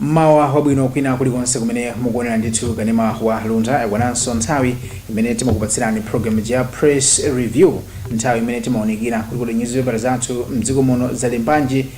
mmawa wabwino kwina kulikonse kumene mukuonera ndithu kanema wa luntha yakwananso nthawi imene timakupatsirani program ya press review nthawi imene timaunikira kuti kodi nyuzipepala zathu mdziko muno zalembanji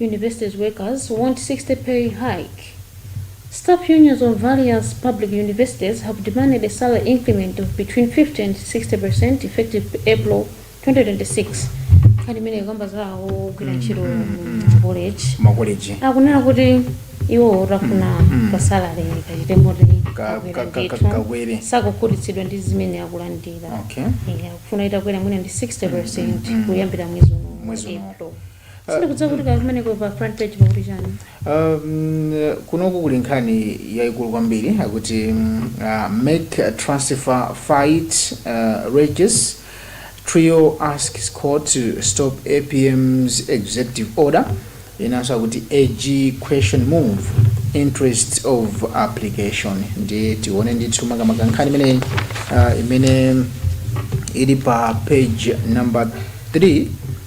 Universities workers want 60 percent pay hike. Staff unions of various public universities have demanded a salary increment of between 50 and 60 percent effective April 2026. Nkhani imene ikukamba za ogwira ntchito m'makoleji. Akunena kuti iwo akufuna ka salary kachite moti Ka- ka- ka- ka- kakwere. sakukhutitsidwa ndi zimene akulandira. okay Eh, akufuna itakwera mwina ndi 60 percent kuyambira mwezi uno. Mwezi uno. April. sindikudziwa kuti kaya kumeneko pa front page pakuti chani Um, kunoku kuli nkhani yayikulu kwambiri akuti mm, uh, MEC transfer fight uh, rages trio asks court to stop apm's executive order inanso akuti ag question move interest of application ndiye tione ndithu makamaka nkhani imeneyi uh, imene ili pa page number 3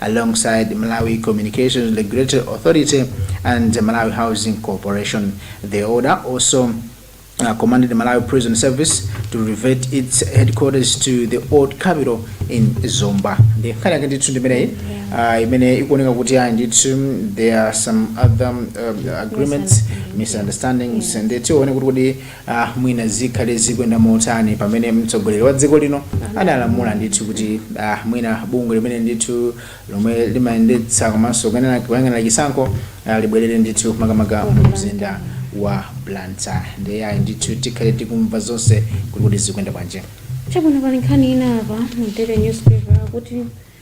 alongside Malawi Communications Regulatory Authority and the Malawi Housing Corporation. The order also uh, commanded the Malawi Prison Service to revert its headquarters to the old capital in Zomba. Nde nkhani yake ndithu ndimeneyi uh, imene ikuoneka kuti ayi ndithu there are some other um, agreements misunderstandings and tione kuti kodi a mwina zikhale zikuyenda motani pamene mtsogoleri wa dziko lino analamula ndithu kuti a mwina bungwe limeneli ndithu lomwe limayendetsa komanso kuyang'ana- kuyang'anira chisankho a, libwerere ndithu makamaka mu mzinda wa blantyre ndiye ayi ndithu tikhale tikumva zonse kuti kuti zikuyenda bwanji chabwino pali nkhani ina apa mu daily newspaper kuti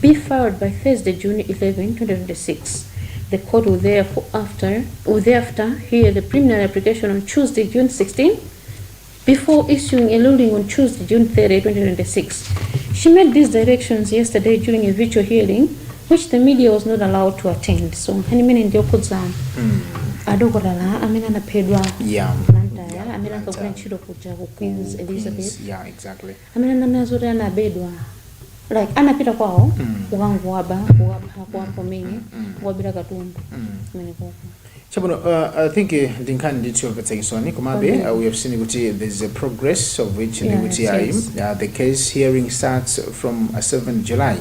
be filed by Thursday, June 11, 2026. The court will therefore after will thereafter hear the preliminary application on Tuesday, June 16, before issuing a ruling on Tuesday, June 30, 2026. She made these directions yesterday during a virtual hearing, which the media was not allowed to attend. So, nkhani imene ndiyokhudza adokotala amene anaphedwa Yeah. Blantyre, amene ankagwira Blantyre. ntchito kuja ku Queens Elizabeth. Yeah, exactly. amene ananena zoti anabedwa like anapita kwawo Mm. kukangowaba kuwapha kuwapha kumene Mm. kuwabira katundu Mm. komweko chabwino uh, i think eh, ndi nkhani ndithu yomvetsa chisoni komabe Kwambiri. uh, we have seen kuti there is a progress of which Yeah, ndikuti yes, ayi yes. uh, the case hearing starts from uh, 7 july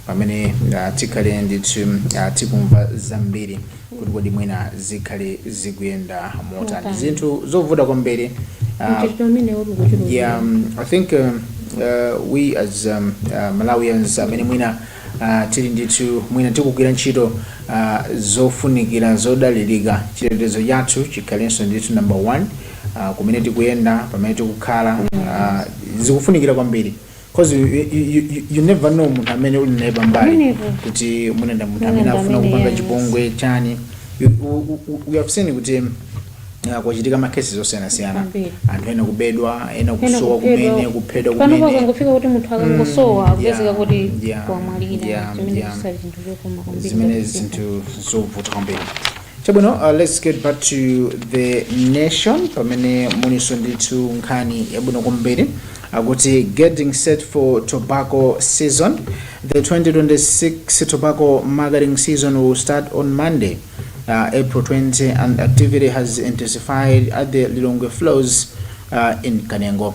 pamene uh, tikhale ndithu uh, tikumva zambiri kuti kodi mwina zikhale zikuyenda motani Motani. zinthu zovuta kwambiri ah, mchitidwe umenewu ukuchuluka yeah, um, I think um, uh, we as um, uh, Malawians amene mwina uh, tili ndithu mwina tikugwira ntchito uh, zofunikira zodalirika chitetezo chathu chikhalenso ndithu number one uh, kumene tikuyenda pamene tikukhala uh, zikufunikira kwambiri cause you, you, you, you- you never know munthu amene uli naye pambali Pamenepo. kuti munenda munthu amene Munenda afuna amene, kupanga yes. chipongwe chani You- u- u- u- we have seen kuti uh, kwachitika makesi osiyanasiyana Kwambiri. anthu ena kubedwa ena kusowa kumene kuphedwa kumene panopo akangofika kuti munthu akangosowa Mm, akupezeka yeah, kuti yeah, wamwalira yeah, chimene yeah. chisali chinthu chokoma kwambiri zimene zinthu zovuta kwambiri chabwino uh, let's get back to the nation pamene mulinso ndithu nkhani yabwino kwambiri akuti getting set for tobacco season the 2026 tobacco marketing season will start on monday uh, april 20 and activity has intensified at the lilongwe flows uh, in kanengo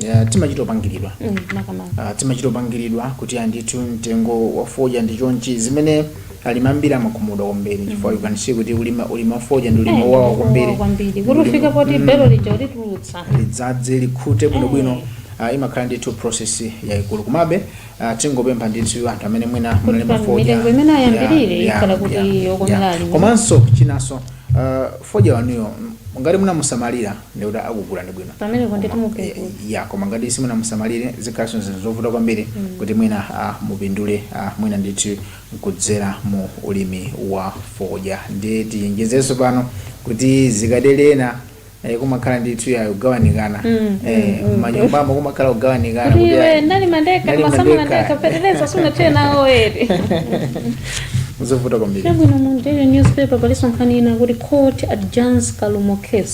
Ya, timachita opangiridwa Mm, makamaka Ah, timachita opangiridwa kuti andithu mtengo wa fodya ndi chonchi zimene alimi ambiri amakhumudwa kwambiri chifukwa you can see kuti ulimi ulimi wa fodya ndi ulimi Eh, wowawa ulimi kwambiri wowawa kwambiri Ndi kuti ulima- ufike poti Mm. belo lija ulitulutse lidzaze likhute bwinobwino ah, imakhala ndithu process yaikulu komabe ah, tingopempha ndithu anthu amene mwina munalima pa fodya mitengo imene ayambirire ya- ya- ikhale kuti ya- yokomera ya. alimi. komanso chinanso ah, fodya wanuyo ngati munamusamalira ndiye kuti akugulani bwino Pamenepo Koma- ndithu mupindula. eh, ya koma ngati simunamusamalire zikhalanso zinthu zovuta kwambiri kuti mwina ah, mupindule ah, mwina ndithu nkudzera mu ulimi wa fodya ndiye tionjezenso pano kuti zikatelena eh, kumakhala ndithu yayo kugawanikana Mm, eh, mm, mm. manyumbamo kumakhala kugawanikana kuti kuti iwe ayi, ndali mandeka ndali ndimasamala mandeka. ndeka feteleza sunathire nawo eti zovuta kwambiri chabwino mu daily newspaper palinso nkhani ina kuti court adjourns kalumo case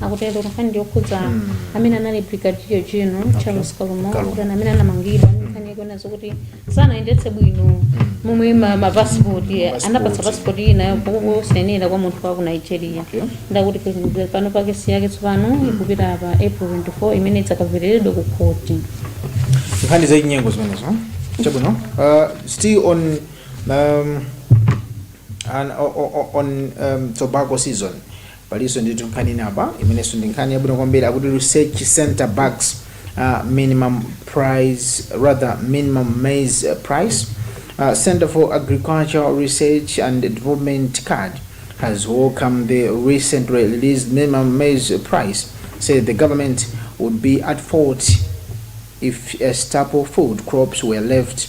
akutero nkhani yokhudza Mm. amene anali brigadier general Okay. charles kalumo Kalumo. kuti amene anamangidwa ndi nkhani yakuona zokuti sanayendetse bwino momwe ma- mapasipoti Passport. anapatsa pasipoti ina yosayenera kwa munthu wa ku nigeria Okay. ndiye akuti president pano kesi yake tsopano ikupita pa april 24 imene idzakamvereredwa ku khoti nkhani zachinyengo zimenezo chabwino uh, still on um, an, o, o, o, on um, tobacco season palinso ndithu nkhani ina apa imenenso ndi nkhani yabwino kwambiri akuti research center bags uh, minimum price rather minimum maize uh, price uh, center for agricultural research and development card has welcomed the recently released minimum maize price said the government would be at fault if uh, staple food crops were left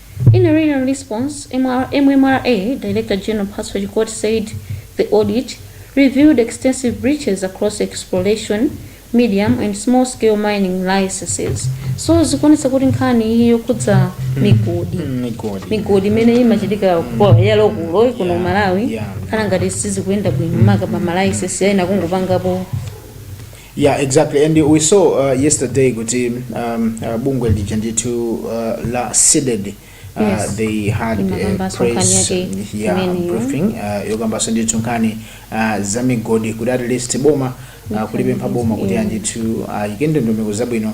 In a written response, MMRA Director General Mphatso Chikoti said the audit revealed extensive breaches across exploration, medium and small scale mining licenses. So zikuonetsa kuti nkhani iyi yokhudza migodi migodi migodi imene imachitika kwa- ya lokulo kuno Yeah, Malawi yeah. ikhala ngati sizikuyenda bwino maka pa malaisensi ena kungopangapo Yeah, exactly. And we saw uh, yesterday kuti um, uh, bungwe lija ndithu uh, la CDEDI uh, Yes. they had a Imakamba press nkhani yake yeah, imeneyo. briefing uh, yokambanso ndithu nkhani uh, za migodi kuti at least boma uh, kulipempha boma kuti Yeah. andithu ayike ndondomeko zabwino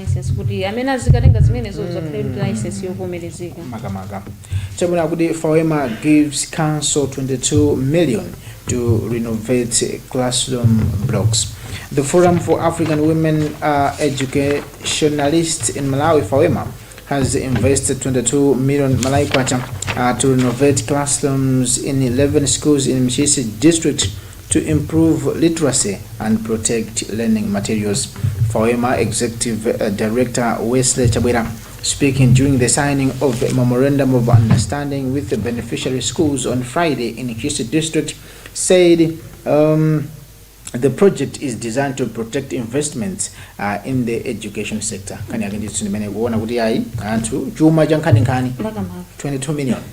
license kuti amene azikatenga zimenezo azikhala ndi license yovomerezeka makamaka chabwino akuti fawema gives council 22 million to renovate classroom blocks the forum for african women uh, educationalists in malawi fawema has invested 22 million malawi kwacha uh, to renovate classrooms in 11 schools in ntchisi district To improve literacy and protect learning materials, FAWEMA Executive Director Wesley Chabwera speaking during the signing of the Memorandum of Understanding with the beneficiary schools on Friday in Kisi District said um, the project is designed to protect investments uh, in the education sector. Kani yake ndithu ndimene kuona kuti ayi anthu chuma cha nkhaninkhani 22 million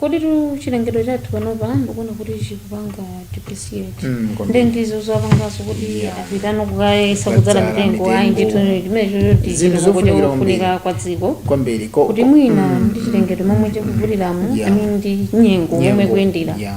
Koditu chilengedwe chathu panopa ndikuona kuti chikupanga depreciate Mm, kwambiri. nde ndizo zowapangaso kuti Yeah. apitano kukayesa kudzala Kudzala mitengo ayi mitengo. ndithu chimene chochoti Zinthu zofunikira kwambiri. kufunika kwa dziko kwambiri ko- kuti ko- mwina mm, ndi chilengedwe momwe chikuvutiramu Yeah. amene ndi nyengo momwe ikuyendera yeah.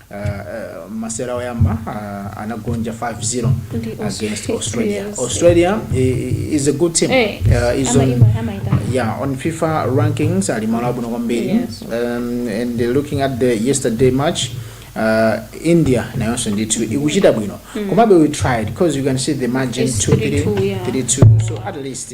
masewera oyamba uh, anagonja 5-0 Ndi against Australia. Australia. Yes. Australia i- i- is a good team. Eh, Uh, is ama- on, ima- amaita. yeah, on FIFA rankings ali malo abwino kwambiri. Yes. Um, and looking at the yesterday match uh, India nayonso ndithu ikuchita bwino. Komabe we tried because you can see the margin It's 2-3, 3-2, yeah. 3-2. So at least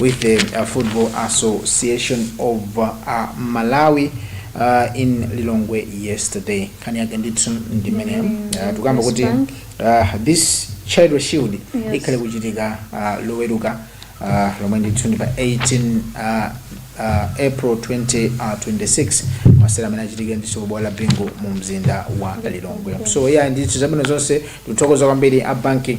with the uh, Football Association of uh, Malawi uh, in Lilongwe yesterday. Nkhani yake ndithu ndimene Mm, uh, tukamba kuti Bank. uh, this Charity Shield Yes. ikhale ikuchitika uh, loweruka uh, lomwe ndithu ndi pa 18 uh, uh, April 2026 masera amene achitike ndithu kubwalo la Bingu mu mzinda wa Lilongwe. So yeah ndithu zabwino zonse tikuthokoza kwambiri a banki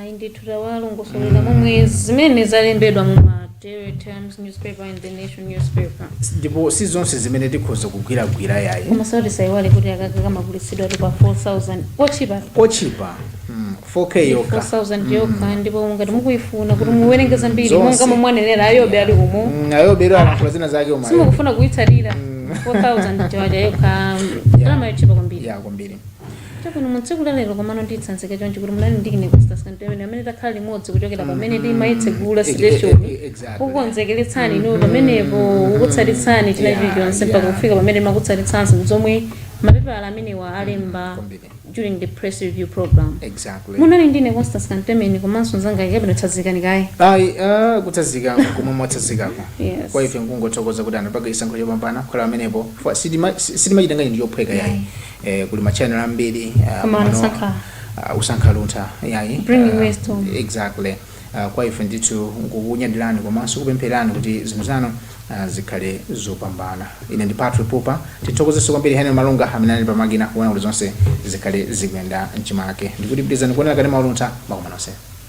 Ayi ndithu tawalongosolera momwe zimene zalembedwa mu ma Daily Times newspaper and the Nation newspaper. ndipo si zonse zimene tikhoza kugwiragwira yayi Komaso tisaiwale kuti akaka kamagulitsidwa tu pa 4000 ochipa ochipa mm, 4k yokha 4000 yokha ndipo ngati mukuyifuna kuti muwerenge zambiri Zonse. monga momwanenera a Yobe ali umo Mm, a Yobe lero alankhula zina zake umo ayi simukufuna kuyitsalira 4000 kwacha yokha ndalama yochipa kwambiri ya kwambiri Chabwino, mu tsiku la lero komano nditsanzika chonchi kuti munali ndi ine Constance Kantemeni amene takhala limodzi kuchokera pamene timayitsegula Eh, eh, station eh, exactly. kukukonzekeretsani inu pamenepo kukutsatitsani china Yeah, chilichonse mpaka yeah. kufika pamene timakutsatitsaninso zomwe mapepala amenewa alemba Kwambiri. during the press review program exactly munali ndine Constance Kantemeni komanso nzanga wabwino tsazikani kaye ayi ah, kutsazikako komwe mwatsazikako Yes. kwa ife nkungothokoza kuti anapanga chisankho chopambana kukhala pamenepo Fa- sitima- si- sitimachitenga ndi chophweka yayi eh, kuli machannel ambiri ah, Koma mano- anasankha. ah, kusankha Luntha yayi Bringing ah, wisdom. exactly Ah, kwa ife ndithu nkukunyadirani komanso kupemphererani kuti zinthu zanu ah, zikhale zopambana ine ndi Patrick Pupa tithokozenso kwambiri Henry Malunga amene ali pamakina kuona kuti zonse zikhale zikuyenda mchimake ndikuti pitizani kuonera kanema wa Luntha zikomo nonse